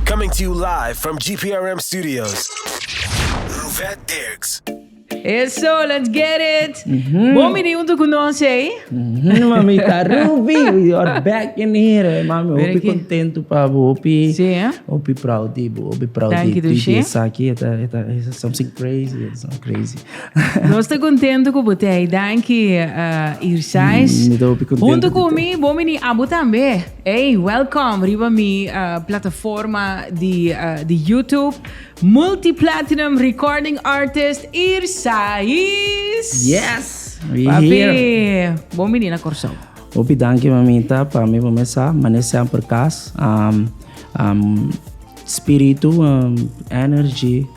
Coming to you live from GPRM studios, Ruvet Dirks. Eso, let's get it! Bon bini huntu ku nos ei. Mhm, mamita Ruby, you're back in here. Mami, Mira hopi ki. contento pa bo, hopi, Sí, hè? hopi proud di bo, hopi proud Thank di you, di Dushi. di esaki, eta, eta, eta something crazy, it's not crazy. Nos te contento ku bote ei. Danki, uh, Irsais. Mm, mi ta hopi contento Huntu ku ku mi, bon bini abo tambe. Ey, welcome riba mi plataforma di YouTube, multi-platinum recording artist Irsais! Yes! We here! Papi, bon bini na Corsou. Hopi danki mamita, pa mi bo mes sa, mane semper cas. Spiritu, energy,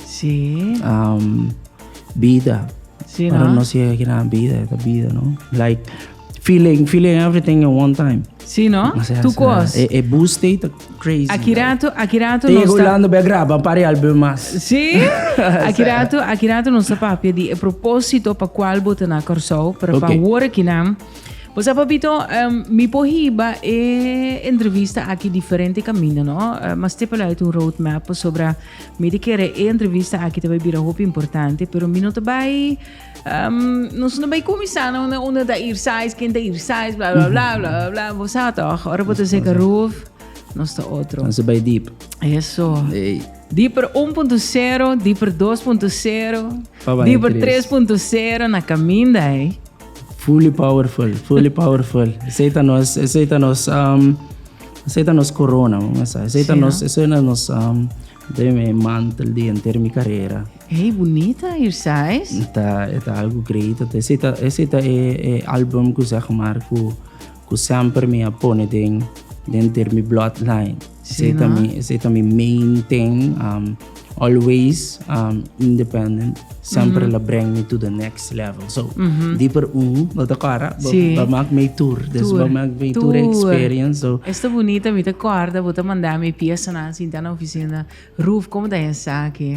bida, pa nos yega aki na bida, e ta bida no. Feeling, feeling everything in one time. Sí, no? Así, Tu así. cos. E, e bus stay ta crazy. Aquí like. rato, aquí rato Te nos llega ta... Orlando, ben graba un par de album más. Sí, aquí rato, aquí rato nos ta papia di e propósito pa cual bo te na Corsou, pero Ok. pa wor aquí nan. Pues a papito, em, mi po hiba e entrevista aquí diferente camino, no? Eh, mas te pelo uit un roadmap, pasobra mi te kere e entrevista aquí te bai bira hopi importante, pero mi no te bai Nos no bay cumisá na una una ta ir size, ken ta ir size, bla bla bla bla bla bla. Bo sa toch, ora bo ta seka roof, nos ta otro. Entonces bay deep. Eso. Ey. Dieper 1.0, dieper 2.0, Pa baña dieper tres. 3.0 na caminda, eh. Fully powerful, fully powerful. Esei ta nos, esei ta nos, um, esei ta nos corona, mama sa. Esei ta Sí, nos, no? esei na nos um, Den mi mantel di enter mi carera. Ey, bunita air sais. Ta, e ta algo great. Ata ese ta, ese ta e, e album cu zeg maar cu, cu semper mi a pone den, den ter mi bloodline. Ese ta mi, ese ta mi main thing. Um, always, um, independent. Semper la breng mi to the next. level so dieper un bo ta kòrda bo bo mak mi tur des bo mak mi tur experience so Es ta bunita mi ta kòrda bo ta manda mi piasanan sinta na ofisina Ruth komo ta esaki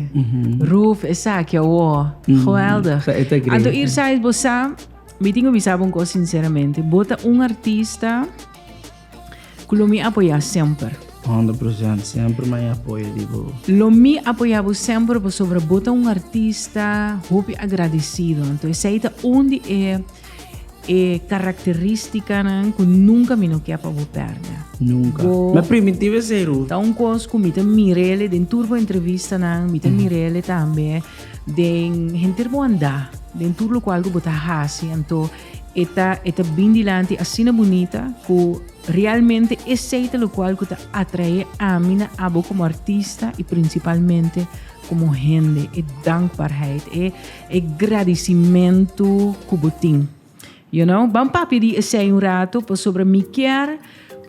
Ruth esaki awó geweldig anto Ier Said bo sa mi tin ku bisa bo un kos sinceramente bo ta un artista Cu lo mi apoya semper. Hondo present, semper m'a apoya di bo. Lo mi apoya bo semper pasobra bo ta un artista hopi agradecido. Anto esey ta un di e e caracteristicanan cu nunca mi no ke pa bo perde. Nunca. Bo M'a primitivo esey, Ruth. Ta un cos cu mi ta mir'ele den tur bo entrevistanan, mi ta mir'ele tambe den henter bo andá, den tur locual cu bo ta haci. Anto. E ta e ta bin dilanti asina bunita ku realmente esei ta lokual ku ta atrae ami na abo komo artista i prinsipalmente komo hende e dankbaarheid e e gradisimentu ku bo tin. You know, ban papia di esei un rato pasobra mi kier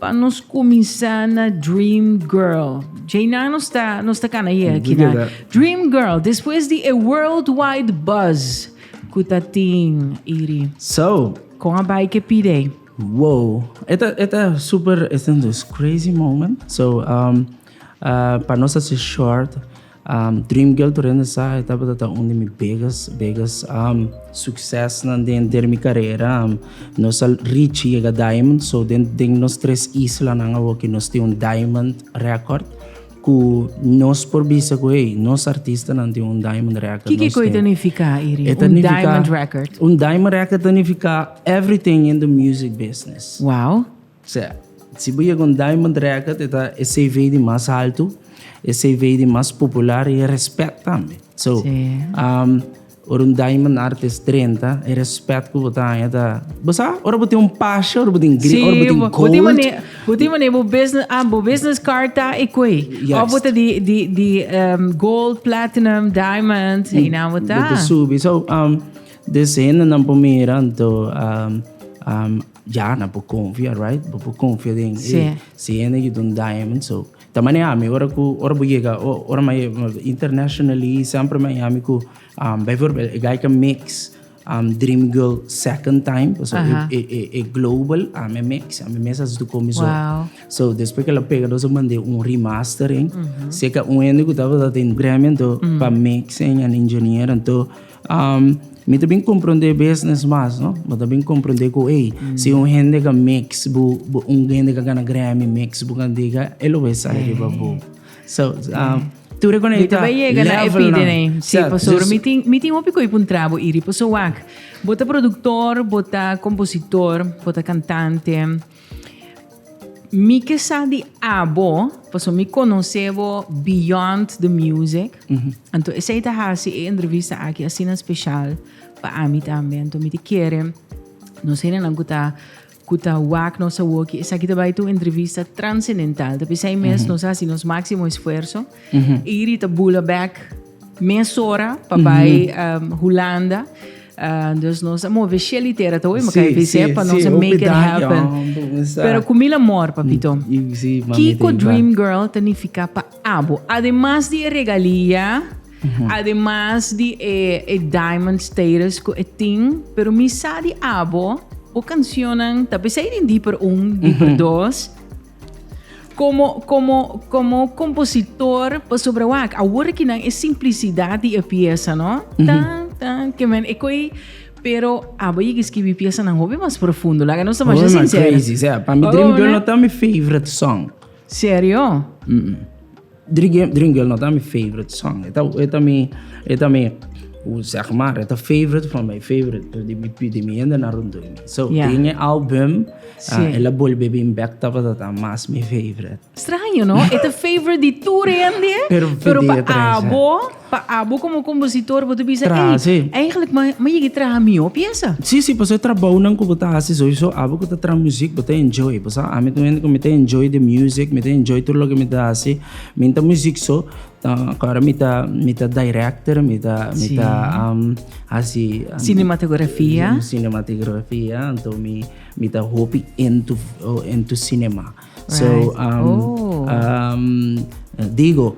Pa nos kuminsá na Dream Girl. Djei nan nos ta, nos ta kana ye aki nan. Dream Girl, despues di e worldwide buzz ku ta tin Iri. So. Kon a bai ke pide? Wow, e ta, e ta super, e ta nos crazy moment. So, um, uh, pa nos ta si short. Dream Girl Torrente Sa e tabata ta un di mi biggest, biggest um, succesnan den, der mi carrera. Um, nos al reach yega diamond, so den, den nos tres islanan awoki nos tin un diamond record cu nos por bisa cu hey, nos artistanan tin un diamond record. Kiki nos koe tin. ta nifica, Iri? E ta Un nifica- diamond record. Un diamond record ta nifica everything in the music business. Wow. Sea, si bo yega un Diamond Record e ta e CV di mas haltu, e CV di mas popular i e respet tambe. So, ora un Diamond Artist drenta, e respet ku bo ta haña ta, bo sa, ora bo tin un pasha, ora bo tin gri, ora bo tin gold. Si, bo tin manera, bo tin manera bo business, ah, bo business card ta e kue. Yes. Of bo ta di, di, di gold, platinum, diamond, heinan bo ta. Bo ta subi. So, des hendenan por mira anto. Ya nan por confia right bo por confia den sí. eh, si hende ki don diamond so ta maneami ora ku ora bo yega o ora ma internationally sempre maneami ku um, bijvoorbeeld e guy ka mix um, dream girl second time so e, e, e, e global a me mix a me mes as tu komi so Wow. so después que la pega dos mandé un remastering seca un hende que estaba dat in Grammy ento pa mixing en engineer ento Mi ta bin comprende business mas no mi ta bin comprende ku ey si un hende ka mix bu un hende ka gana Grammy mix bu kan diga e lo bai sai riba bo so tur e konai ta level nan si pasobra mi tin mi tin hopi koi pa un trabo iri paso wak bo ta productor bo ta compositor bo ta cantante. Mi ke sa di abo, paso mi conoce bo beyond the music. Anto esei ta hasi e entrevista aki asina special pa ami tambe. Anto mi te kere nos hendenan ku ta ku ta wak nos awoki esaki ta bai ta un entrevista transcendental. Ta p'esei mes nos a hasi nos máximo esfuerzo. Y Rita bula bek mesora pa bai Hulanda. Dus nos a move Shelly te era ta hoy, maka avise pa nos make it happen. Pero cu mil amor, papito. Kiko Dream Girl ta nifica pa abo? Ademas di e regalia, ademas di e diamond status cu e tin, pero mi sa di abo, bo cancionnan ta pesey den Dieper un, Dieper dos. Como, como, como compositor, pasobra wak, awor ki nan e simplicidad di e pieza, no? Tan, tan, que men e koi, pero abo yigi skibi pieza nan hopi mas profundo, laga nos ta masha Hoor man, sincero. crazy, sea. Pa mi Oh, Dream Girl no? no ta mi favorite song. Serio? Dream Girl no ta mi favorite song. E ta, e ta mi, e ta mi, hoe zeg maar, e ta favorite van mijn favorite, di mi, di mi hende na rondó mi. So, yeah. den e album, sí. uh, el a bolbe bin back tabata ta mas mi favorite. Extraño, no? e ta favorite di tur hende, pero, pero pa abo... Pa abo komo kompositor bo ta bisa ey Trahasi. eigenlijk ma ma yega traha mihó piesa. Sí, sí, pasobra e trabounan ku bo ta hasi sowieso abo ku ta traha muziek bo ta enjoy. Bo sa ami ta un hende ku mi ta enjoy di musiek, mi ta enjoy tur loke mi ta hasi. Mi ta muziek so, ta kòrda mi ta mi ta director, mi ta mi ta hasi Cinematografia. cinematigrafia, anto mi mi ta hopi into into cinema. So, digo,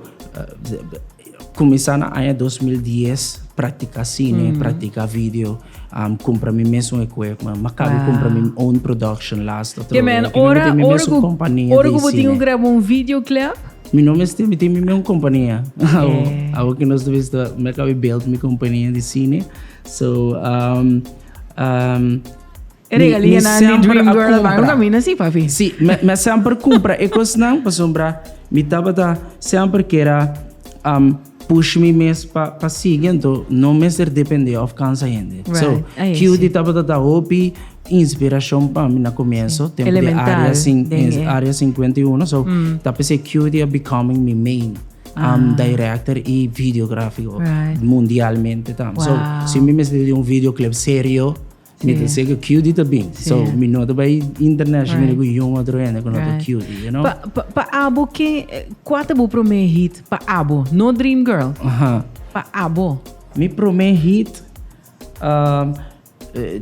kuminsá na aña dos mil dies praktiká sine, praktiká video, kumpra mi mes un ekuipment, mi a kabe kumpra mi own production las ta trove. Mi mester tin mi mes un kompania di sine. Ora ku bo tin ku graba un videoclip? Mi no mester, mi tin mi mes un kompania. Awo ku nos ta bista, mi a kabe build mi kompania di sine. So. E regalianan di Dream Girl van a mina si, papi. Si, me, me semper compra e cosnan, pasombra mi tabata semper kera um, push mi mes pa, pa sigui, ento no mester depende of cansa hende. Right. So, Ay, Cutie sí. tabata da hopi inspiracion pa mi na comienzo, sí. tempo Elemental, de área, sin, de... área 51, so, mm. tapese Cutie becoming mi main. Ah. Um, director y videográfico right. mundialmente tam. Wow. So, si mi mester de un videoclip serio, Mi ta sega cutie ta bin. Sí. So, mi no ta bay international right. ku yon otro hende ku no ta cutie, you know? Pa, pa, pa abo ke, kwa ta bu prome hit pa abo? No Dream Girl. Aha. Pa abo. Mi prome hit, um,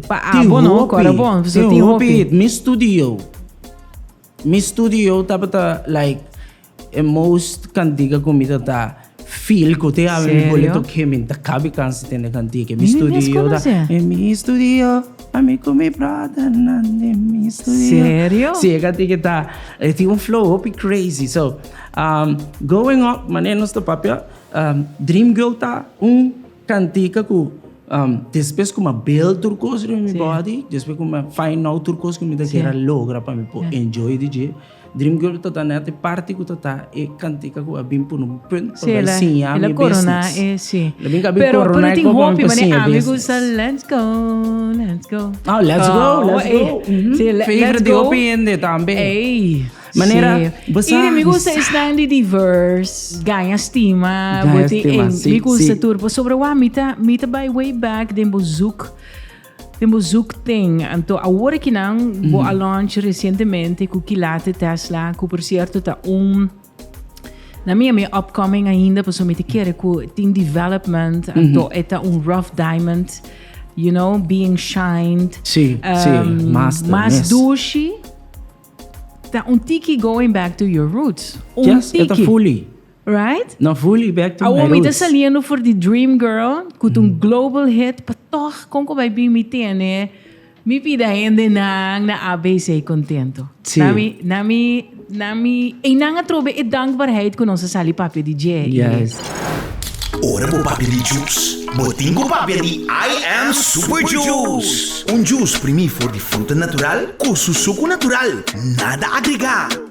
pa abo no, kora bon. Tin hopi hit. Mi studio. Mi studio tabata, like, E most kantika ku mi ta ta feel ku te ami mi bole tok he mi ta kabe kansa tende kantika mi studio ta en mi studio ami ku mi brother nan den mi studio si e kantika ta e tin un flow hopi crazy so going up manera nos ta papia dream girl ta un kantika ku despues ku mi a build tur kos riba mi body despues ku mi a find out tur kos ku mi ta kere a logra pa mi por enjoy di dje. Dream Girl ta da net e parti ku ta ta e kantika ku a bin pone un punt pa bai siña mi business. La bin ka bin korona e koba mi pa siña e business. Let's go, let's go. Oh, let's go, let's go. Favorite di hopi hende tambe. Manera bo sa. Iri mi gusta esnan di diverse, gaña stima, bo tin en mi gusta tur pasobra wak mi ta mi ta bai way back den bo zoek. Den bo zoek ten. Anto awor ki nan bo a launch recientemente cu ki latte Tesla cu por cierto ta un na mi a mi upcoming ainda paso mi ta kere cu tin development anto e ta un rough diamond you know being shined Si, si, mas ta mas mes. dushi ta un tiki going back to your roots un Yes, e ta tiki. fully. Right? No fully back to my roots. Awor mi ta saliendo for di Dream Girl, ku ta un global hit, pa toch kon ku bai bin mi tene, mi pida hendenan na ABC kontento. Sí. Na mi, na mi, na mi, ei nan a trobe e dankbaarheid ku nos a sali papia di dje. Yes. Ora bo papia di juice, bo tin ku papia di I am Super Juice. Un juice primí for di fruta natural ku su suku natural, nada agregá.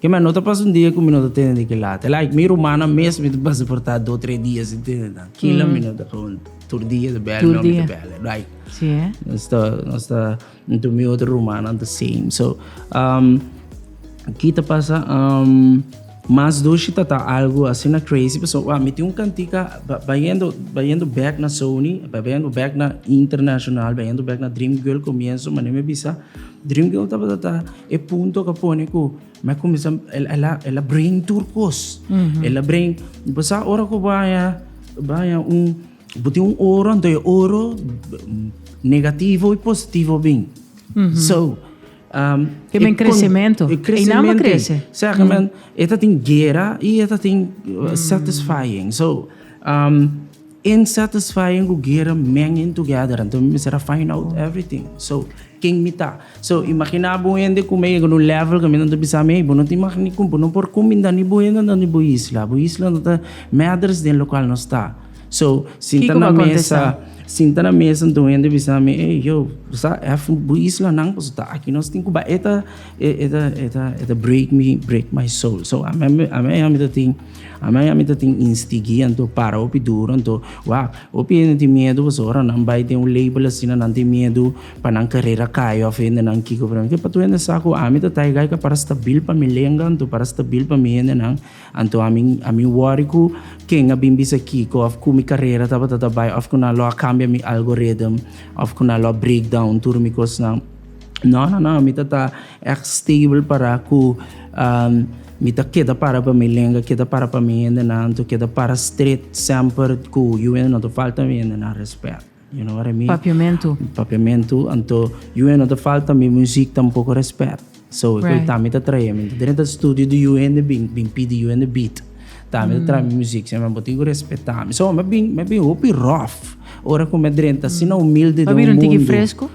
Keme, no ta pasa un dia ku mi no ta tende di kila. Te like mi rumannan mes mi ta pasa por ta dos tres dia sin tende nan. Kila mi no ta gewoon tur dia ta bèl mi, mi ta bèl. Like nos ta nos ta nto mi otro rumannan ta same. So, ki ta pasa mas doshi ta ta algu asina crazy pasobra wak mi tin un kantika bayendo bayendo bèk na Sony, bayendo bèk na International, bayendo bèk na Dream Girl komienso mane mi a bisa. Dream girl tabata ta e punto cu a pone cu mi a cuminsa, el a bring tur cos. El a bring, bo sa ora cu bo haya, bo haya un, bo tin un oro, anto e oro negativo y positivo bin. So, E bin crecemento. E crecemento. Eynan bo crece. Sa cu men, e ta tin guera y e ta tin satisfying. So, In satisfying ku guera men in together anto mi mester a find out everything so ken mi ta so imagina bo un hende ku mi a yega na un level ku amentu a bisa mi ey bo no tin maka ni kumpu no por kumbi nda ni bo hende nda ni bo isla bo isla no ta merders den lokal nos ta so sinta na mesa sinta na mesa anto un hende a bisa mi ey yo bo sa ef bo islanan paso ta aki nos tin ku ba eta eta eta eta break mi break my soul so ame ame ey ami ta tin. Amai y ami ta tin instigui anto para hopi duro anto wak hopi hende tin miedu pues ora nan bai den un label asina nan tin miedu pa nan carrera cai of hende nan kico pero mi pato hende sa cu ami ta taiga y para stabil pa mi lenga anto para stabil pa mi hende nan anto ami ami worry cu ken a bin bisa kico of cu mi carrera tabata ta bai of cu nan lo a cambia mi algorithm of cu nan lo a break down tur mi cosnan. No, no, no, mi ta ta echt stable para cu mi ta keda para pa mi lenga, keda para pa mi hendenan, to keda para stret semper cu yu no ta falta mi hendenan respet. You know what I mean? Papiamentu. Papiamentu, anto yu no ta falta mi muziek tampoco respet. So, right. ta mi ta trae mi dren ta studio di yu hende bin, bin pidi yu hende beat. Ta mi ta trae mi muziek, se me bo tin respeta mi. So, me bin, me bin hopi rough. Ora cu me dren ta sina humilde de un mundo. Mabir un tiki fresco?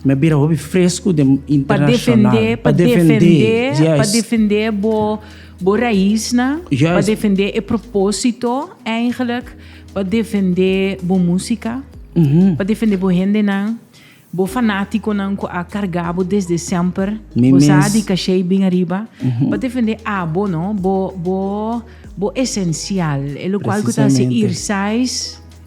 Mi a bira hopi fresku den internashonal. Pa defendé, pa defendé bo raisnan, pa defendé e propósito eingelik, pa defendé bo músika, pa defendé bo hendenan, bo fanátikonan ku a kargá bo desde semper, bo sa di kashei bin ariba, pa defendé abo, no, bo esensial, e lokual ku ta hasi irsais.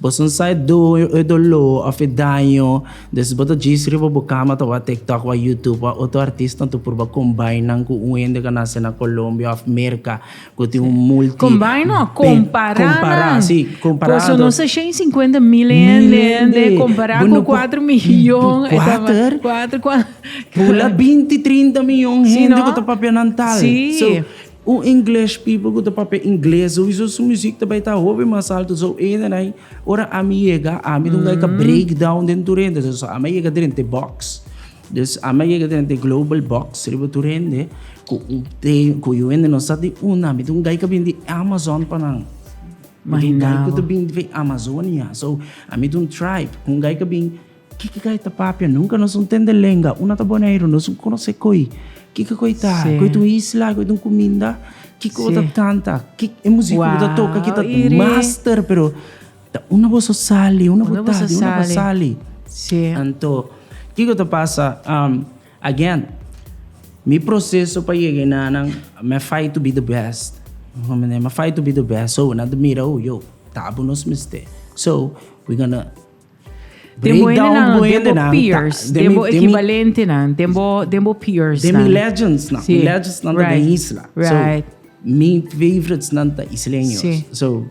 Boso no sa e doño, e doló òf e daño. Den si bo ta djis riba bo kama ta wak TikTok wak YouTube wak otro artisnan ta purba combine nan ku un hende ku nase na Colombia òf Merca ku tin un multi Combine no, compará nan. Compará, sí, compará. Boso no sa shen sinkuenta mil e hende hende compará ku kuater miyon e ta Kuater? kuater kua Pula binti trinta miyon hende ku ta papia nan tal. Sí. So. Un English people cu ta papia Ingles souizo su music ta bay ta hopi mas alto so eden ay ora ami yega ami dunga ay ka break down den tur hende so ami a yega drente box dus ami a yega drente global box riba tur hende cu un tem cu yu hende no sa di una ami dunga ay ka bini di Amazon pa nan mi dunga ay cu ta bini di Amazonia so ami dun tribe dunga ay ka bini Kiko kei ta papia? Nunka nos un tende lenga, un a ta Boneiru, nos un konosé koi. Kiko koi ta? Sí. Koi ta un isla, koi ta un kuminda. Kiko bo ta Sí. kanta, ki e musika ku bo ta toka Wow, ki ta Iri. master, pero ta unda boso sali, unda bo Unda ta, boso di unda bo sali? sali. Sí. Anto, kiko ta pasa? Am, again, mi proseso pa yega enanan, mi a fight to be the best. Mi a mende, mi a fight to be the best. So, nan ta mira, oh, yo, tabun nos mester. So, we gonna. Den bo hendenan, den bo hendenan, peers, ta- den den bo mi- den mi- equivalentenan, den bo, den bo peers. De mi legends nan. Sí. Mi legends nan Right. den isla. Right. So, mi favorites nan ta isleños. Sí. So,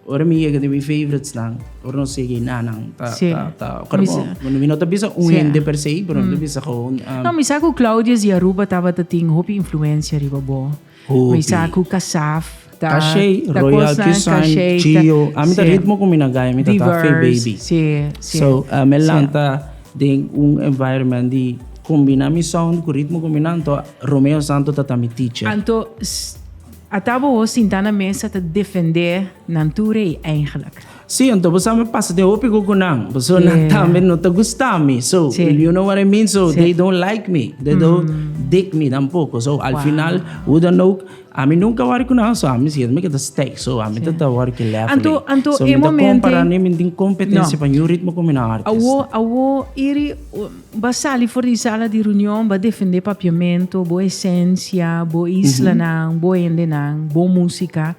ora mi yega den mi favorites nan, ora no sigui na nan, ta, Sí. ta, ta, Mi mi, sa- bueno, mi no ta bisa un Sí. hende per se, pero mi ta bisa gewoon, um, No, mi sa cu Claudius di Aruba tabata tin hopi influencia riba bo. Hopi. Sa cu cassaf ta Cachey, ta Royal cosnan Cuisine, cachey ta- Chio. A mi ta Sí. ritmo cu mi na gaya, mi ta ta fe diverse. baby. Sí, sí. So, uh, me Sí. lanta den un environment di combina mi sound cu ritmo cu mi nan, to Romeo Santo ta ta mi teacher. Anto s- a ta bobo sinta na mesa ta defende nan tur ei eigenlijk. Sí, anto bo sa mi pasa tin hopi cu cu nan, personanan tambe no ta gusta mi, so if you know what I mean, so they don't like me, they don't dig me tampoco, so al final hoe dan ook, ami nunca word cu nan, so ami siempre mi keda stay, so ami ta ta word ki level ei, so mi ta compara no mi tin competencia pa niun ritmo cu mi na artist. Awo, awo iri ba sali for di sala di reunion ba defende Papiamento, bo esencia, bo islanan, bo hendenan, bo musica,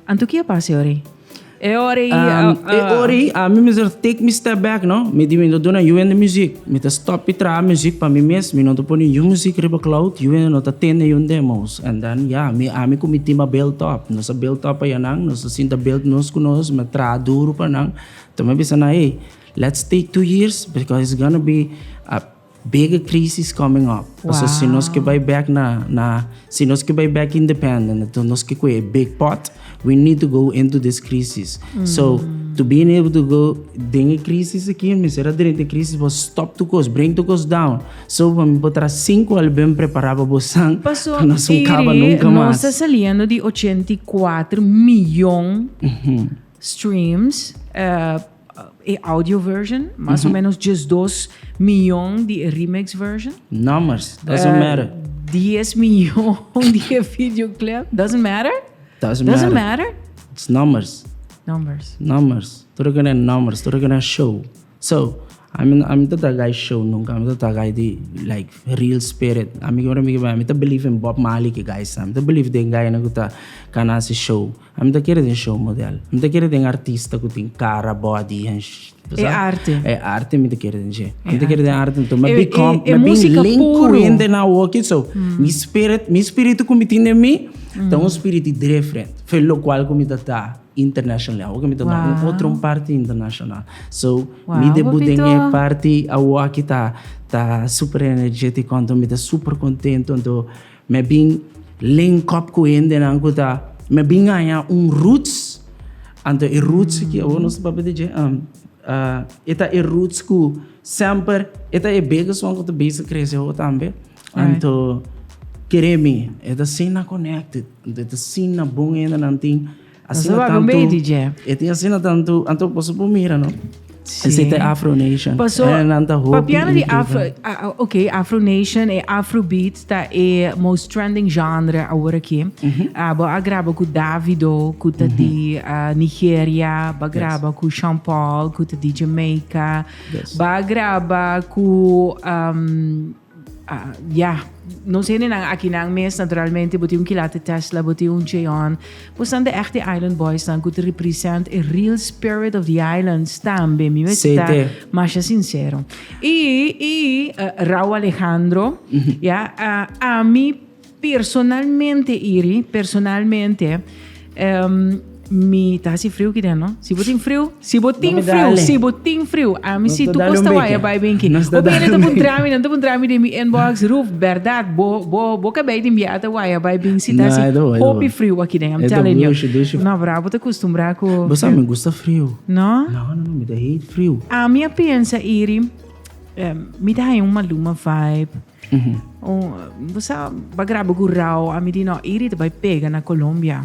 anto ki a pasa awe? E ora ei ah. E ora ei ami mester ta take mi step back no, mi di mi ta duna yu hende muzik, mi ta stop di traha muzik pa mi mes, mi no ta pone niun muzik riba cloud, yu hende no ta aten niun demos, and then ya mi ami ku mi tim a build up, nos a build up aya nan, nos a sinta build nos ku nos, mi a traha duru pa nan, mi a bisa nan hey, let's take two years because it's gonna be a. Bigger crisis coming up. Paso si nos ke bai back na na si nos ke bai back independent enton nos ke koe e big pot we need to go into this crisis so to being able to go den e crisis aki mi mester a drenta e crisis bo stop tur cos bring tur cos down so pa mi por tra cinco al ben prepara pa bosan pa nos un caba nunca mas. Paso iri nos ta saliendo di ochenta i kuater miyon streams. E audio version, mas o menos diesdos miyon di e remix version. Numbers, doesn't matter. Dies miyon di e videoclip, doesn't matter? Doesn't Doesn't matter. matter? It's numbers. Numbers. Numbers. Todo kende numbers, todo kende show. So, ami ami ta tagai show nunca, ami ta tagai di like real spirit. Ami kibra mi kibai, ami ta believe in Bob Marley ki guys, ami ta believe den guy na ku ta kana si show. A mi ta kere den show model. Mi ta kere den artista ku tin kara, body, hen ta sa. E arte. E arte mi ta kere den dje. Mi ta kere den arte anto mi a become, mi a bin link ku hende den awoki. So, mi spirit, mi spiritu ku mi tin den mi ta un spiriti different for lo kual ku mi ta ta internationally. Awoki mi ta na un otro parti international. So, mi debu den e parti awoki ta, ta super energético anto mi ta super contento anto. Me bin link up ku hendenan ku ta. Me bin haña un roots. Anto e roots aki awor nos ta papia di dje. E ta e roots ku semper e ta e bekeson ku ta bisa krese awor tambe. Anto kere mi e ta asina connected. Anto e ta asina bon hendenan tin. Asina tantu e tin asina tantu anto paso por mira no esete afro nation paso e nan ta hopi papiano di afro ok afro nation e afro beat ta e most trending genre awor aki mm -hmm. uh, bo a graba ku davido ku ta mm -hmm. di uh, nigeria ba graba yes. ku sean paul ku ta di jamaica yes. ba graba ku um, Ya, nos hendenan akinan mes naturalmente bo tin un kilate Tesla, bo tin un Cheon. Bo san ta echt e Island Boysnan ku ta represent e real spirit of the islands tambe. Mi mester ta Sete. masha sincero. Y, y, eh, Rauw Alejandro, ya, eh, ami Personalmente iri, personalmente, em, mi ta hasi friu ki den, no? Si bo tin friu, si bo tin Nos ta friu, dale. si bo tin friu, ami Nos si ta tu dale un kosta beke. waya bai binki. Nos ta Hopi dale hende ta un bun beke. drami, nan ta bun drami den mi inbox, Ruth, berdad, bo, bo, bo kabei di mbia ata waya bai bin si ta No, hasi e ta bo, e ta bo. hopi friu aki den, I'm E ta telling you. dushi, dushi. No, bra, bo ta custumbrá ku Bo sa mi gusta friu. No? No, no, no, mi ta hate friu. Ami a pensa iri, em, mi ta haña un Maluma vibe. Bo sa ba graba ku rau, ami di no iri ta bai pega na Colombia.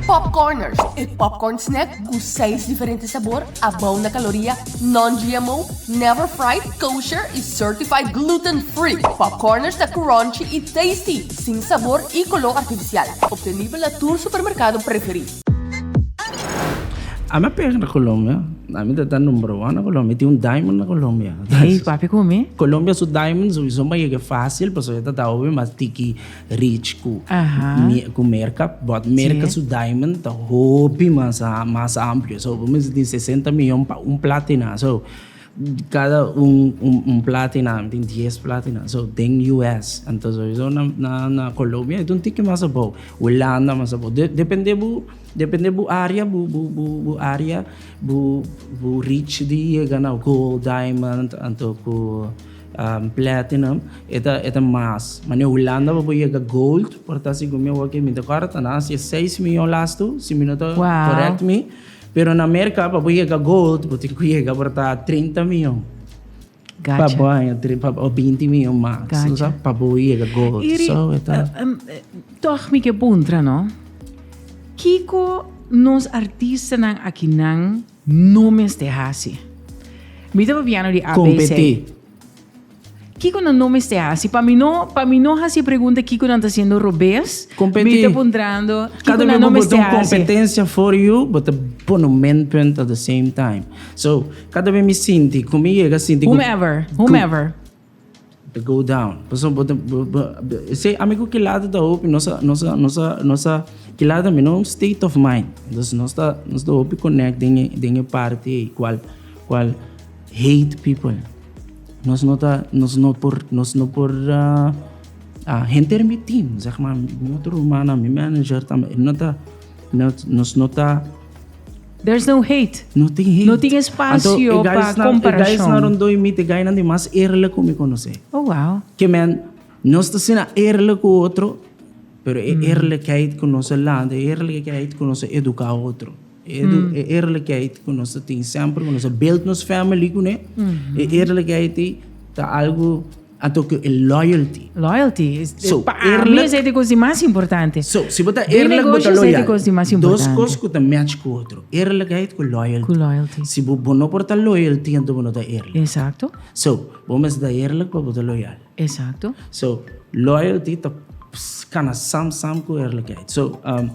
Popcorners, e popcorn snack ku seis diferente sabor, abou na kaloria, non-GMO, never fried, kosher i certified gluten free. Popcorners ta crunchy i tasty, sin sabor i koló artifisial. Obtenibel na tur supermerkado preferí. Ami a pega na Colombia. Ami ta ta number one na Colombia. Tin un diamond na Colombia. Hey, papi con mi? Colombia su diamond su son baie que fácil, pues yo ta ta hobi mas tiki rich cu Ajá. cu Merca, but Merca Sí. su diamond ta hobi mas a- mas amplio. So, bo mester tin 60 miljon pa un platina. So, Cada un un plata y nan tin diez plata y nan so den US anto sowieso na na na Colombia e ta un tiki mas abou Hulanda mas abou de depende bo depende bo area bo bo bo bo area bo bo reach di yega na gold diamond anto ku platinum e ta e ta mas ma na Hulanda bo por yega gold por ta sigur mi awor ke mi ta kòrda ta na hacia seis miyon lastu si mi no ta correct mi. Pero na Merca pa bo yega gold bo tin cu yega aporta trinta mion. Pa bo aña o binti mion max lo sa pa bo yega gold. Iri toch mi ke puntra no kiko nos artistanan akinan no mester haci? Mi ta papiando di abc. Competi. Kiko nan no mester hasi? Pa mi no, pa mi no hasi e pregunta kiko nan ta siendo robes. Competi. Mi ta puntrando kiko Cada vez nan no bo bota mester un hasi. competencia for you, bo ta pone un minpunt at the same time. So, cada vez mi sinti cu mi yega sinti cu Whomever, whomever. to go down. Paso bo, ta- bo, bo, bo- ese ami cu kilata ta hopi nos a, nos a, nos a, nos a kilata mi no state of mind. Dus nos ta, nos ta hopi connect den e, den e parti ei cual, cual Hate people. Nos no ta, nos no por, nos no por a henter mi team, zeg ma, mi otro ruman, mi manager tambe, e no ta, nos no ta. There's no hate. No tin hate. No tin espasio pa komparashon. E guysnan rondoi mi, te guynan di mas eerlijk ku mi konosé. Oh, wow. Ke men, nos ta asina eerlijk ku otro, pero e eerlijkheid ku nos a lanta, e eerlijkheid ku nos a eduká otro. E eerlijkheid ku nos ta tin semper ku nos a build nos family kuné, e eerlijkheid ei ta algu anto ku e loyalty. Loyalty, So, pa ami eerlijk- esei ta e kos di mas importante. So, si bo ta Den eerlijk, bo ta negoshi, esei ta loyal. kos di mas Dos importante. kos ku ta match ku otro, eerlijkheid ku loyalty. Ku loyalty. Si bo, bo no por ta loyal tin anto bo no ta eerlijk. Exacto, So, bo mester ta eerlijk pa bo ta loyal. exacto. So, loyalty ta ps- kana sam sam ku eerlijkheid. So, um,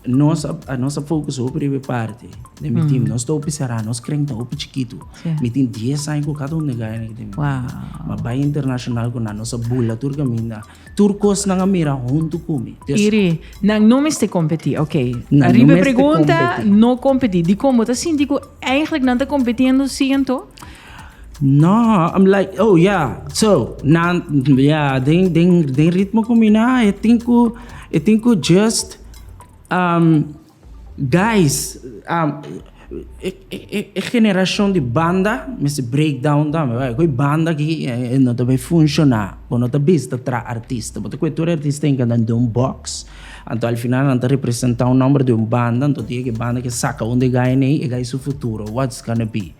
Nos a, a nos a focus hopi riba e parti den mi team. Nos ta hopi será, nos kren ta hopi chikitu. Sí. Mi tin 10 aña cu cada un de gaya que tem. Wow. Ma bai internacional cu na nos a bula tur caminda. Tur cos nan a mira junto cu mi. Dus, Iri, nan no mester competi, ok. Nan no Arriba e mester pregunta, competi. no competi. Dicon bo ta sinti cu eigenlijk nan ta competiendo siento? Nah, I'm like, oh yeah, so nan yeah den den den ritmo ku mi na e tin ku e tin ku just um guys um e e e generashon di banda mester break down tambe bai ku e banda aki e no ta bai funshoná bo no ta bisa ta traha artista bo ta ku e tur e artista tin kende duna un box anto al final nan ta representá un nòmber di un banda anto dia ku e banda kia saka un di e gainan ei e gai su futuro whats gonna be.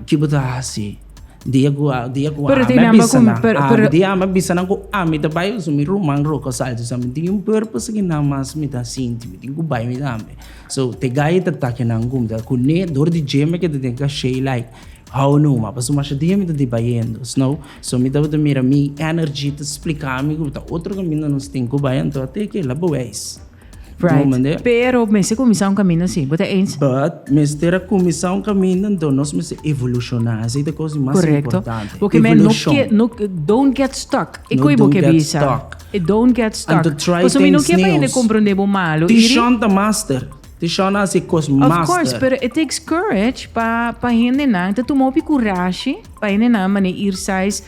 Ki bo ta hasi? Dia ku dia ku ami a bisa nan ami dia ami a bisa nan ku ami ta bai usa mi ruman roka salsa sa mi tin un purpose ki nan mas mi ta sinti mi tin ku bai mi tambe so te guy ta ta kinan ku mi ta kuné dor di dje mi ke ta tene kashei like how no ma pasobra masha dia mi ta di bayendo sno so mi tabata mira mi energy ta splika mi ku ta otro kaminda nos tin ku bai anto a te kila bo bai. Right. Pero mester kuminsá un kaminda si. Bo ta eens? But mester a kuminsá un kaminda, enton nos mester evolushoná. Esei ta kos di mas importante. Korekto. Porque men no ke, no, don't get stuck. E ku ei bo ke bisa. No don't get stuck. E don't get stuck. And to try things neos. Pasobra mi no ke pa hende komprondé bo malu, Iri. Tishon ta master. Tishon a hasi e kos master. Of course, pero it takes courage pa, pa hendenan, ta tuma hopi kurashi pa hendenan mané Irsais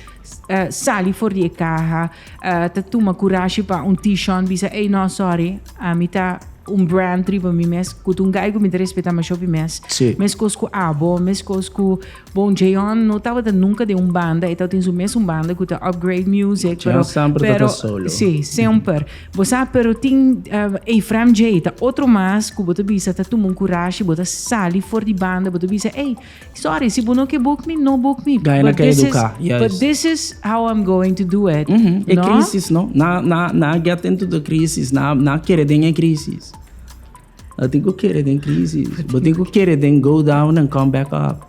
sali for di e kaha. Ta tuma kurashi pa un T-Shon bisa ey no sorry ami ta un brand riba mi mes ku un gai ku mi ta respeta masho pi mes sí. meskos ku abo meskos ku bon J-On no tabata nunka den un banda e tabatin su mes un banda ku ta upgrade music pero pero sí semper bo sa pero tin Efraim J ta otro mas ku bo ta bisa ta tuma un kurashi bo ta sali for di banda bo ta bisa ey Sorry, si bo no ke boek mi, no boek mi. Gana ka eduká, juist. But this is how I'm going to do it. Mhm, e krísis, no? Na, na, na get into the krísis, na, na kere den e krísis. No tin ku kere den krísis. Bo tin ku kere den go down and come back up.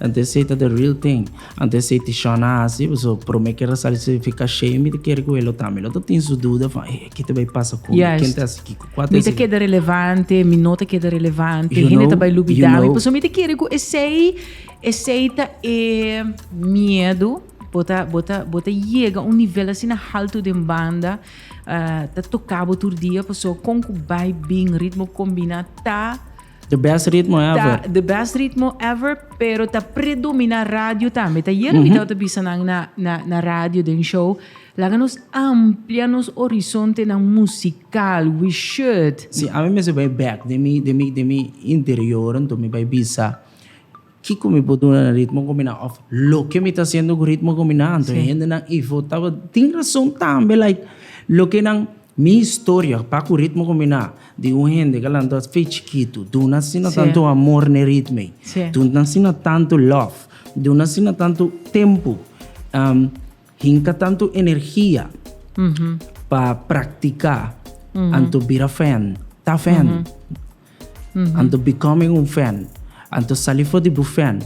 And they say that the real thing. Anto esei ti Shawn a hasi, so prome ker a sali si fika shei mi ta kere ku e lo ta. Mi lo ta tin su duda van e aki ta bai pasa ku mi, ken ta hasi kiko, kua ta hasi kiko. Mi ta keda relevante, mi no ta keda relevante, hende ta bai lubida mi, pasobra mi ta kere ku esei, esei ta e miedu, bo ta bo ta bo ta yega un nivel asina haltu den banda ta toka bo tur dia, pasobra kon ku bai bin ritmo kombiná ta. The best ritmo ever. Ta the best ritmo ever, pero ta predomina radio tambe. Ta yere mi tau ta bisa nan na, na, na radio den show. Laga nos amplia nos horizonte nan musical. We should. Si, ami mester bai back den mi, den mi, den mi interior, anto mi bai bisa. Kiko mi por duna na ritmo combiná of loke mi ta haciendo cu ritmo combiná? Anto e hendenan y votaba tin razón tambe like loke nan mi historia pa cu ritmo combiná di un hende cu a lanta fe chikito duna asina tanto amor n'e ritmo ey, duna asina tanto love, duna asina tanto tempo, hinca tanto energia pa practica anto bira fan ta fan. Anto becoming un fan. Anto sali for di bu fan.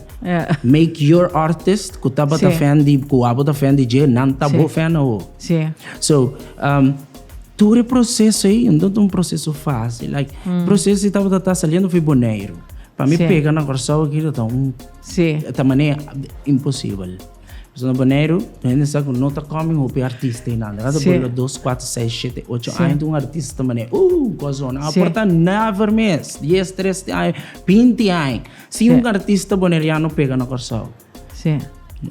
Make your artist ku tabata fan di ku abo ta fan di dje nan ta bo fan awo. So tur e proseso ei no ta un proseso facil like proseso ei tabata ta saliendo for boneiru pa mi pega na Kòrsou aki ta un ta manera imposibel. Pasobra na Boneiru hende sa ku no ta kòmen hopi artista hinanda. Nan ta por lo dos, kuater, seis, shete, ocho aña ta un artista ta manera uh un kosona. A por ta never mes, dies, treste aña, binti aña. Si un artista boneriano pega na Kòrsou,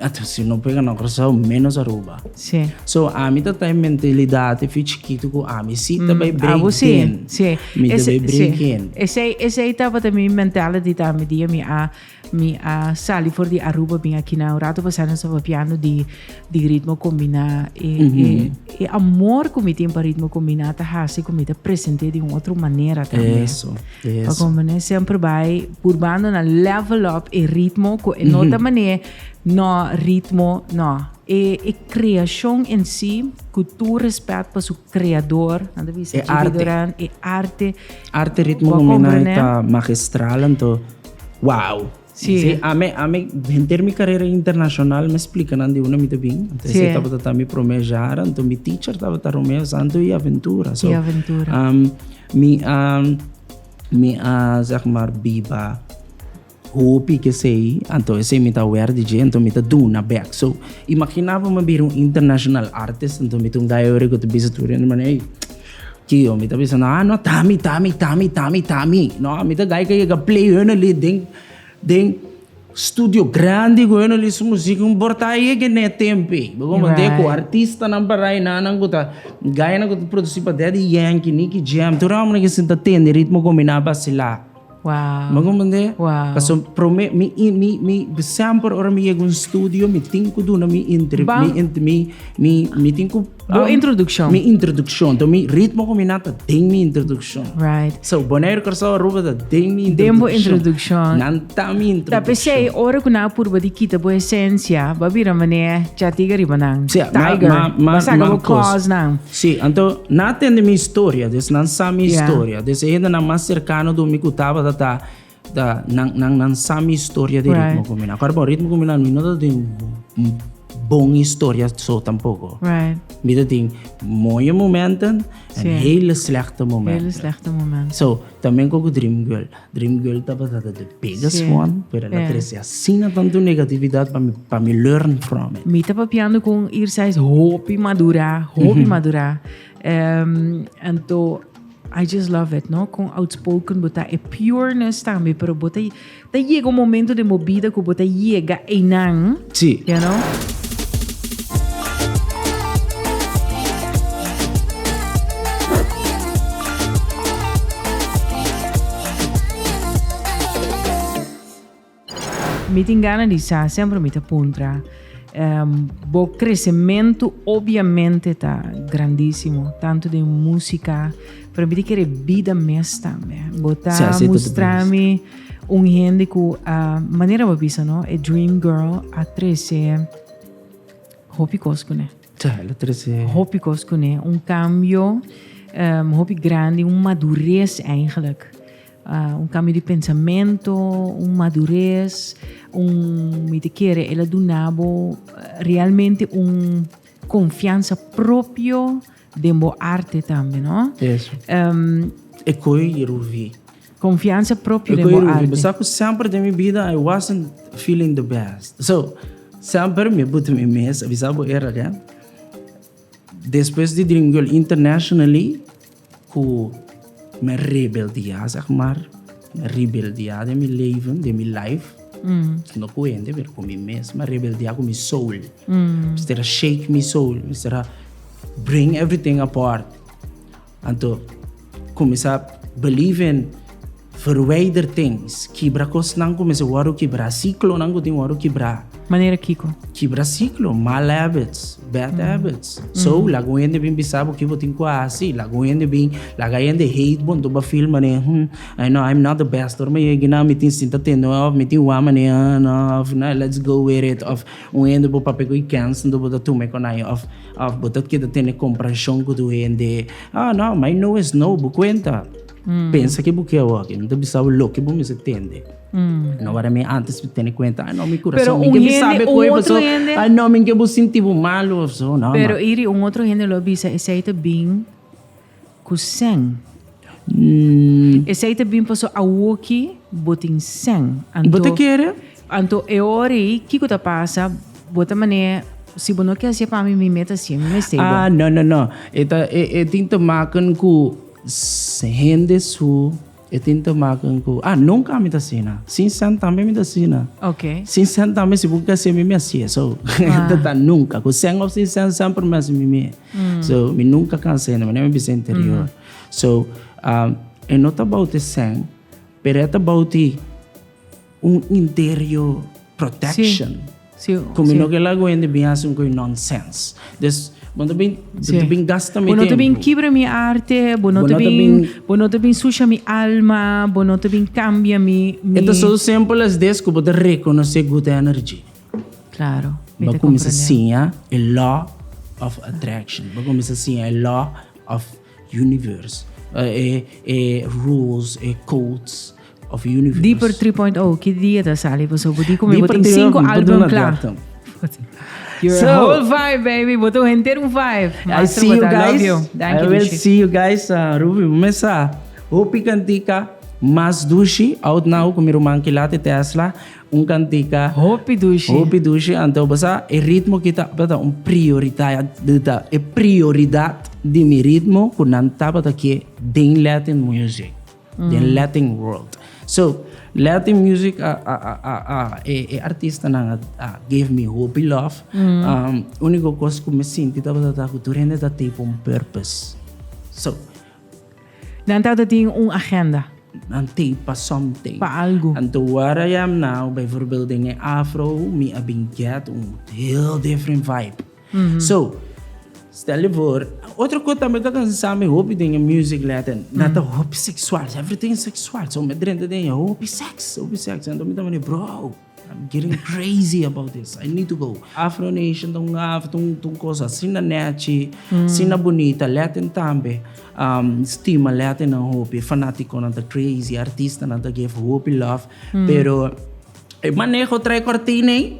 ato si no pega na Kòrsou ménos Aruba. So ami ta ta e mentalidad pi chikitu ku ami si ta bai break in, mi ta bai break in. Esei tabata mi mentality tambe di mi a Mi a sali for di Aruba bin aki na un rato pasado nos a papiando di, di ritmo combiná. E, mm -hmm. e, mhm. e amor ku mi tin pa ritmo combiná ta hasi ku mi ta presente di un otro manera también. Eso, eso. Pa como ne sempre bai purbando na level up e ritmo ku e mm -hmm. nota mané no ritmo no. E, e creación en sí, ku tu respect pa su creador, anda bisa e arte. Doran, e arte. Arte ritmo combiná ta magistral, anto Wow! Sí. Sí, ame, ame henter mi carrera internacional me explica nan di una mi ta bin. Entonces, sí. esta tabata mi primer jaar, entonces mi teacher tabata Romeo Santo y Aventura. So, y Aventura. Um, mi, um, mi, uh, zeg maar, biba hopi que sei, entonces sei mi ta aware di je, entonces mi ta duna back. So, imaginaba me bir un international artist, entonces mi ta un guy ori que te bisa tur, en man, hey, Tio, mi ta bisa nan, ah no, ta mi, ta mi, ta mi, ta mi, ta mi. No, mi ta gay ka yega play hun a li den, den studio grandi ku hun a li su musik un por ta yega ne tempu ei. Bo komo nte ku artistanan para ei nan, nan ku ta gaynan ku ta produsí pa Daddy Yankee, Nicky Jam, tur e hòmbernan ke sinta tende ritmo kominá, basilá. Wow. Mango mende. Wow. Paso prome mi mi mi sempre ora mi yego un studio mi tin ku duna mi intri mi int mi mi mi tin ku Bo introducción. Mi introducción. To mi ritmo ko mi nata den mi introducción. Right. So Bonaire Curaçao Aruba da den mi introducción. Den bo introducción. Nan ta mi introducción. Tapi sei ora ku na purba di kita bo esencia, ba bira mane chatiga riba nan. Tiger. Ma ma ma. Saga bo claws nan. Sí, anto nan a tende mi historia, des nan sa mi historia, des e hendenan mas serkano do mi ku tabata ta ta nan nan nan sa mi historia di ritmo ku mi nan. Kòrda bon, ritmo ku mi nan mi no ta tin un bon historia so tampoko. Mi ta tin moño momenten en hele slèkte momenten. So, tambe ku Dream Girl. Dream Girl tabata ta de biggest sí. one, pero la yeah. trece asina tanto negatividad pa mi, pa mi learn from it. Mi ta papiando con Irsa is hopi madura, hopi mm -hmm. madura. Um, en to I just love it, no? Con outspoken, bota e pureness tambe, pero bota ta llega un momento de movida que bota llega einan. Sí. You know? Mi tin gana di sa, semper mi ta puntra. Bo kresementu obiamente ta grandisimo, tantu den musika, pero mi ta kere bida mes tambe. Bo ta mustra mi un hende ku, manera bo a bisa no, e dream girl a trese. Hopi kos kuné. Cha, el a trese. Hopi kos kuné. Un kambio um hopi grandi, un madures eigentlik. Uh un kambio di pensamento, un madures, un mi ta kere el a duna bo realmente un konfiansa propio. Den bo arte tambe no. Eso. E koe i ruvi. Konfiansa propio den bo arte. E koe i ruvi. Mi sa ku semper den mi bida I wasn't feeling the best. So, semper mi a butu mi mes, a bisa bo era den. Despues di Dream Girl internationally ku. Mi a rebeldiá sa ku mar. Mi a rebeldiá den mi leven, den mi life. No ku hende pero ku mi mes. Mi a rebeldiá ku mi soul. Mester a shake mi soul. Mester a bring everything apart. Anto kuminsá believe in verwijder things. Kibra kosnan. Kuminsá wòrdu kibrá. Siklonan ku tin wòrdu kibrá. Manera kiko? Kibra siklo, mal habits, bad habits. So, laga un hende bin bisa bo, ki bo tin ku a hasi? Laga un hende bin, laga e hende hate bo, anto bo a feel mane, hmm, ay no, I'm not the best. Ora mi yega na, mi tin sinta tende un hau of mi tin wak mane, ah, no, of no, let's go with it. Of un hende bo papia ku e kèns anto bo ta tuma e konai. Of, of bo ta keda tene komprehensyon ku tur hende. Ah, no, my no is no, bo kuenta. Pensa ke bo ke awor, ke nan ta bisa bo loke bo mester tende. No wada mi antes pa tene cuenta. Ay, no, mi corazón. Pero mi un hende, sabe un otro hende. Ay, no, mi que bo sinti bo malo of zo. No, Pero man. iri un otro hende lo bisa, esei te bin ku sen. Mm. Esei te bin paso awoki botin sen. Anto, bo te kere? Anto eori, kiko ta pasa, bo te mane, si bo no ke asie pa mi, mi meta asie, mi mestei bo. Ah, no, no, no. Eta, e, e tin te maken ku hende su E tin te maken cu, ah, nunca ami ta asina. Sin cent tambe mi ta asina. Ok. Sin cent tambe, si bo ke haci ami, mi haci e. So, Ah. ta ta nunca. Cu cent of sin cent, semper mi haci mimi e. So, mi nunca cansa hende, mi no mi bisa interior. So, ah, e no ta bouti cent, pero e ta bouti. Un interio protection. Cu mi no kel ago hende bin haci un coi nonsense. Des, bo no ta bin, bo ta bin gasta mi tempo. Bo no ta bin kibra mi arte, bo no ta bin, bo no ta bin sucia mi alma, bo no ta bin cambia mi, mi. E ta so simpel as des cu bo ta reconoce good energy. Claro, mi ta comprende. Bo cuminsa siña e law of attraction. Bo cuminsa siña e law of. Universe, e e rules, e codes of universe. Dieper 3.0, ki dia ta sali pasobra bo di ku mi bo tin sinku album kla. You're so, a whole vibe, baby. Bo ta un henter un vibe. I see you guys. I will see you guys. Uh, Ruby, mesa. Hopi kantika. Mas dushi. Out now ku mi ruman kilate Tesla. Un cantica. Hopi dushi. Hopi dushi, anto bo sa, e ritmo ki tabata un prioriteit, di ta e prioridad di mi ritmo cu nan tabata ke den Latin music, den Latin world. So, Latin music a, a, a, a, a, e, e artistanan a, a give mi hopi love. Unico cos cu mi sinti tabata ta cu tur hende ta tape un purpose. So. Nan tabata tin un agenda. Nan tin pa something. Pa algu. Anto where I am now, bijvoorbeeld den e afro, mi a bin get un heel different vibe. So, stel je voor, otro kos tambe ta kos sa mi hopi den e music Latin, nan ta hopi sexual, everything is sexual. So, mi a drenta den e hopi sex, hopi sex. Anto mi ta wende, bro. I'm getting crazy about this. I need to go. Afro Nation ta un af, ta un, ta un cosa asina nechi, asina bonita. Latin tambe um, stima Latin nan hopi. Fanaticonan ta crazy, artistanan ta give hopi love. Pero e maneho trae cortina ei.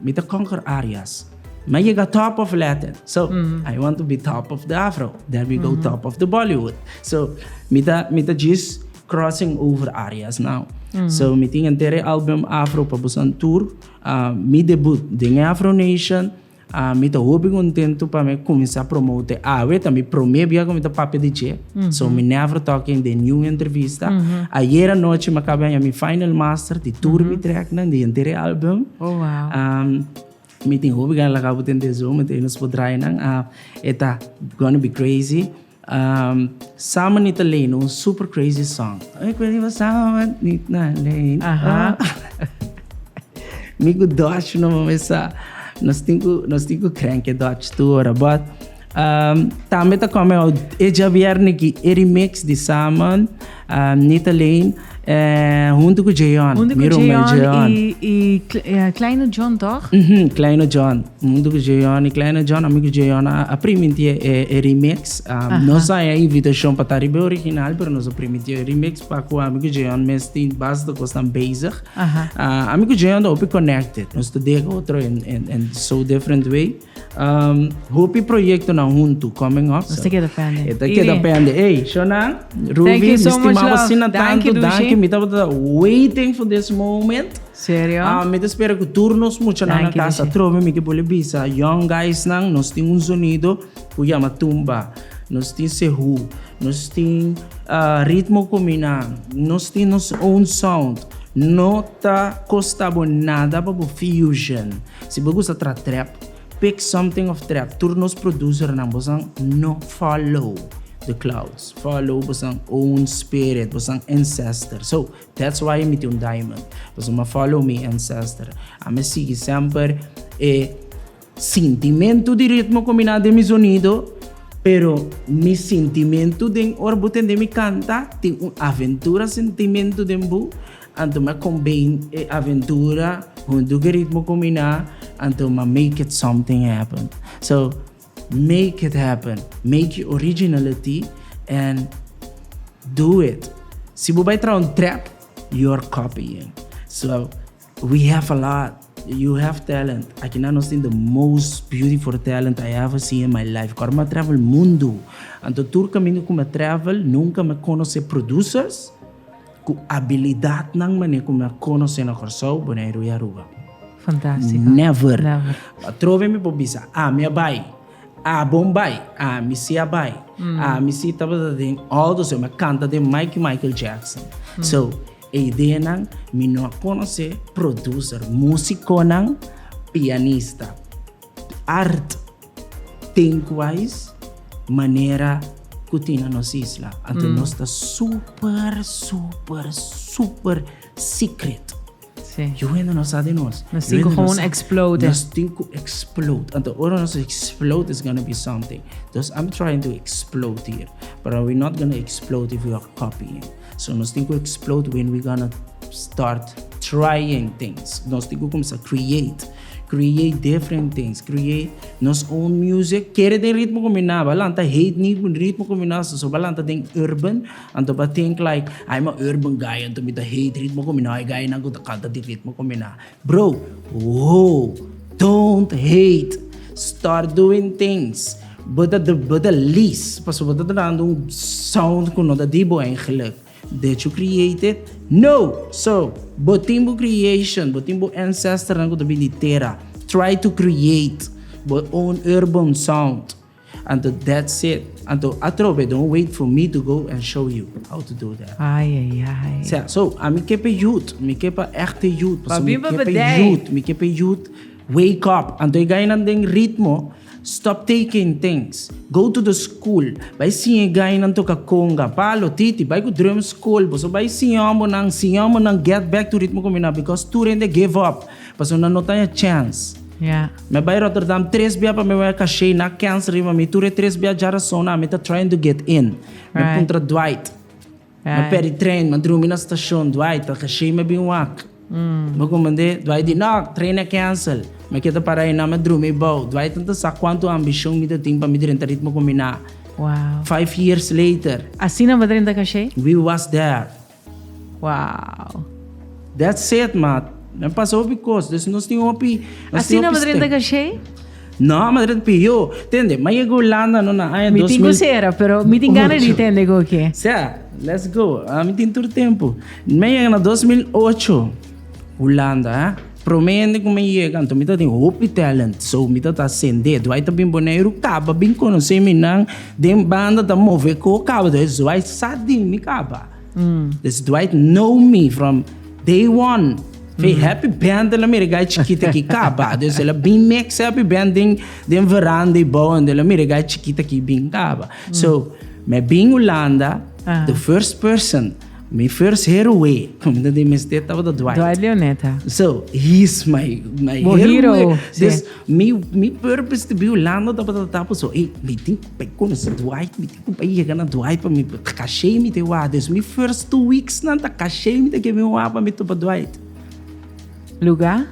Mi ta conquer areas. Mi yega top of Latin. So, I want to be top of the Afro. Then we go top of the Bollywood. So, mi ta, mi ta djis crossing over areas now. So, mi tin enter e album Afro pa boso an tur. Ah, mi debut den e Afro Nation. Ah, mi ta hopi contento pa mi cuminsa promote awe. Ta mi prome bia cu mi ta papia di dje. So mi never talking den niun entrevista. Ayer anochi mi a kaba haña mi final master di tur mi treknan di henter e album. Oh, wow. Um, mi tin hopi gana lagabo den de zo, mi tin nos por drainan. Uh, eta Gonna Be Crazy. Um, Samen Nita Lane, un super crazy song. Ik weet niet wat samen niet naar leen. Aha. Miku Dutch no mesa. Nos tinku, nos tinku krenke Dutch tu ora, but Tambe ta come out e djabièrnè ki e remix di Saman, Nita Lane, huntu ku Jeon. Huntu ku Jeon i Kleine John tòg? Mhm, Kleine John. Huntu ku Jeon i Kleine John. Ami ku Jeon a primintí e remix. Nos a haña invitashon pa ta riba e original, pero nos a primintí e remix pa ku ami ku Jeon mes tin bastante kosnan bezig. Ami ku Jeon ta hopi connected. Nos ta dega otro en so different way. Hopi proyectonan huntu coming up. Nos ta keda pende. E ta keda pende. Ey, Shonan, Ruby, mi stimaba asina tantu. Danki, mi tabata waiting for this moment. Serio? Mi ta spera cu tur nos muchanan na casa atrobe. Mi ke bo le bisa young guysnan, nos tin un zonido cu yama tumba. Nos tin sehu. Nos tin ritmo comina. Nos tin nos own sound. No ta costa bo nada pa bo fusion. Si bo gusta tra trap, pick something of trap tur nos producer nan bosan no follow the clouds follow bosan own spirit bosan ancestor so that's why mi tin un diamond bosan ma follow mi ancestor ami sigui semper e sintimentu di ritmo combina den mi sonido pero mi sintimentu den ora bo tende mi canta tin un aventura sintimentu den bo Anto m'a combine e aventura cu un dugeritmo combiná, anto m'a make it something happen. So, make it happen, make your originality and do it. Si bo bai traha un trap, you're copying. So, we have a lot, you have talent, akinan nos tin the most beautiful talent I ever seen in my life. Kor m'a travel mundo, anto tur caminda cu m'a travel nunca m'a conoce producers, Ku abilidatnan manera ku mi a konos'é na Kòrsou, Boneiru i Aruba. Fantástiko. Never. Never. Atrobe mi por bisa, ah, mi a bai. Ah, bon bai. Ah, mi sí a bai. Ah, mi sí tabata den Aldo Seo, mi a kanta den Mikey Michael Jackson. So, e ideanan, mi no a konos'é producer, músikonan, pianista, art. Tink wais manera ku tin na nos isla. Anto nos ta super super super secret. Yu hende no sa di nos. Nos tin ku gewoon explode. Nos tin ku explode. Anto ora nos explode it's gonna be something. Dus I'm trying to explode here but we not gonna explode if we are copying. So nos tin ku explode when we gonna start trying things. Nos tin ku kumsa create. Create different things. Create nos own music. Kere den ritmo ku mi na ba lanta hate ni ku ritmo ku mi na sa so ba lanta den urban. Anto ba think like ai ma urban guy anto mi ta hate ritmo ku mi na. E guynan ku ta kanta di ritmo ku mi na. Bro, Whoa! Don't hate! Start doing things! Bo ta bo ta lis pasobra bo ta trahando un sound ku no ta di bo eigenlik. Did you create it? No! So, bo tin bo creation, bo tin bo ancestornan ku ta bin di tera. Try to create bo own urban sound. Anto that's it. Anto atrobe don't wait for me to go and show you how to do that. Ai ai ai. Sea, so a mi ke pe youth, mi ke pa echte youth, pasobra mi ke pe youth, mi ke pe youth wake up. Anto e gainan den ritmo, stop taking things, go to the school, bai siña e gainan toka conga, palo, titi, bai ku drum school, boso bai siña hombernan, siña hombernan get back to ritmo ku mi na because tur hende give up. Pasobra nan no taña chèns. Mi a bai Rotterdam tres bia pa mi wak e kashei, nan a kèns riba mi. Tur e tres bia dja rasona mi ta trying to get in. Mi a puntra Dwight. Mi a pèdi tren, mi a drumi na stashon, Dwight, ta kashei mi a bin wak? Mi a komprendé. Dwight di, No, tren a kensel. Mi a keda para einan, mi a drumi bou. Dwight no ta sa kuantu ambishon mi ta tin pa mi drenta ritmo kombiná. Five years later. Asina bo drenta kashei? We was there. Wow. That's it mat. Men pasa hopi cos, dus nos tin hopi. Asina madre ta cachei? No, madre ta yo. Tende, ma yega Holanda no na aña 2000. Mi tin cosera, pero mi tin gana di tende goke. Sea, let's go. Mi tin tur tempo. Mi yega na 2008. Hulanda hè. Promé hende ku mi a yega anto mi ta tin hopi talent so mi ta ta sendé duai ta bin Boneiru kaba bin konosé mi nan den banda ta move ko kaba des duai sa di mi kaba des duai know mi from day one fe happy band la mira gai chikit aki kaba des el a bin mix happy band den den veranda i bou ende la mira gai chikit aki bin kaba so mi a bin Hulanda the first person. Mi first hero way mi ta tin mester tabata Dwight. Dwight Leonetta. So he's my my Bo hero. hero. Dus mi mi purpose to be Orlando tabata ta tapu so ey mi tin ku bai konosi Dwight mi tin ku bai yega na Dwight pa mi kashe mi te wak dus mi first two weeks nan ta kashe mi ta ke mi wak pa mi tupa Dwight. Luga?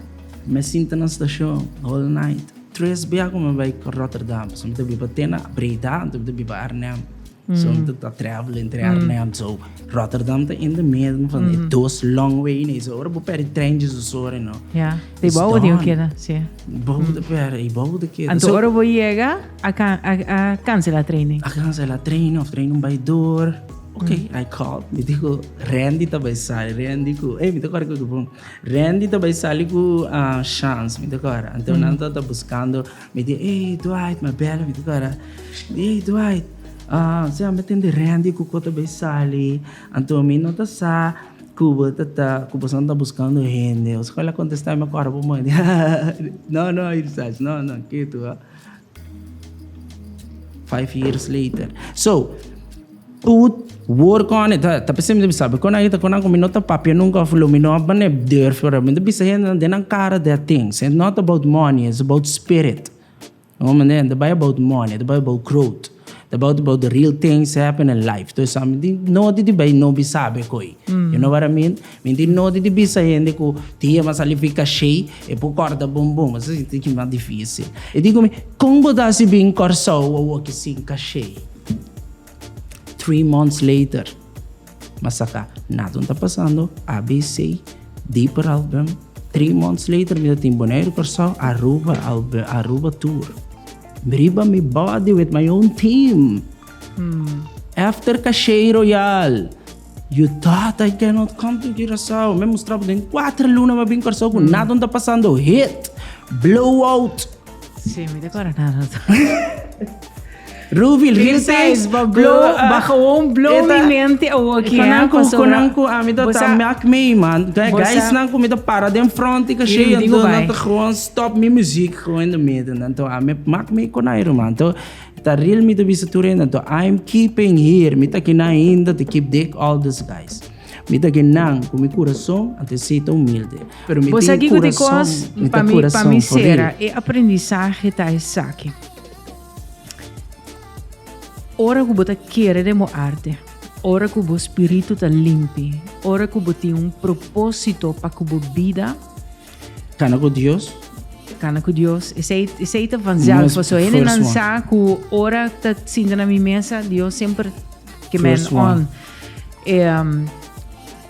Mi a sinta na stashon whole night tres biaha ku mi a bai Rotterdam so mi ta biba te na Breda anto mi ta biba Arnhem. Zonte ta travel entre Arnhem so Rotterdam ta in the middle van e dos long way nei so ora bo peri trein dje dos ora no. Ja, te bo ora teu keda, si. Bo te peri, i bo te keda. Anto ora bo yega a a cancela trein nei. A cancela trein of trein bai door. Ok, I call mi dico Randy ta bai sali Randy cu ey mi ta cora cu Randy ta bai sali cu Shans mi ta cora anto nan ta buscando. Mi di ey Dwight mi a bela mi di ku Ara di ey Dwight se homber tin di rendi ku ko ta bay sali anto mi no ta sa ku bo ta ta ku boso no ta buskando hende o sukoi la kontesta mi mi a kòrda bo moe no no i bisa ashi no no ketu five years later so. Tut wor con ne ta ta p'esei mi ta bisa pero con aint'e con nan cu mi no ta papia nunca of lo mi no a bene durf ora mi ta bisa hende den nan cara that things and not about money it's about spirit no mi ta bay about money ta bay about growth ta bay about the real things happen in life to esaki mi tin nodi di bay no bisa be koy you know what I mean mi tin nodi di bisa hende cu tin yema sali fi cashey e por corta bumbum esaki tin mas dificil y dico mi con bo ta hasi bin in Kòrsou wou a woki sin cashey. Three months later, m'a saca Nato ta pasando, ABC, Dieper album. Three months later, mi ta tin Bonaire, Curaçao, Aruba, album, Aruba tour. Riba mi body with my own team. After Cachei Royal. Yu tata I cannot come to Curaçao me mustrabo den cuatro luna me bin Curaçao cu nada no ta pasando hit blow out Sí, mi ta cora nada. Ruby Lil Says Ba blow, ba gewoon blow mi mente o aquí. Conan cu conan cu a mi ta ta mak me man. Guys nan cu mi ta para den front ik ashe en dan ta gewoon stop mi muziek gewoon in de midden dan to a mi mak me con Iron man to. Ta ril mi ta bisa tur hende anto I am keeping here mi ta kina ainda to keep Dick all this guys mi ta ke nan ku mi kurason anto esita humilde pero mi tin e kurason mi ta kurason for real. Bo sa ki ku di kos pa mi pa mi sera e aprendisahe ta esaki ora ku bo ta kere den bo arte ora ku bo spiritu ta limpi ora ku bo tin un propósito pa ku bo bida Cana cu Dios. Cana cu Dios. Esei, esei ta vanzelf. Por eso, hende nan sa cu ora ta sinta na mi mesa, Dios siempre que men on. Um,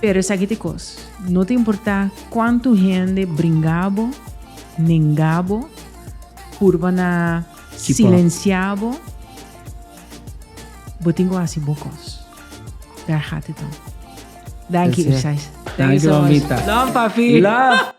pero esaki te cos. No te importa cuánto hende bringabo, nengabo, purba na silenciabo. Botingo así bocos. Daar gaat het om. Dank je, Irsais. Dank je, Mamita. Love, papi. Love.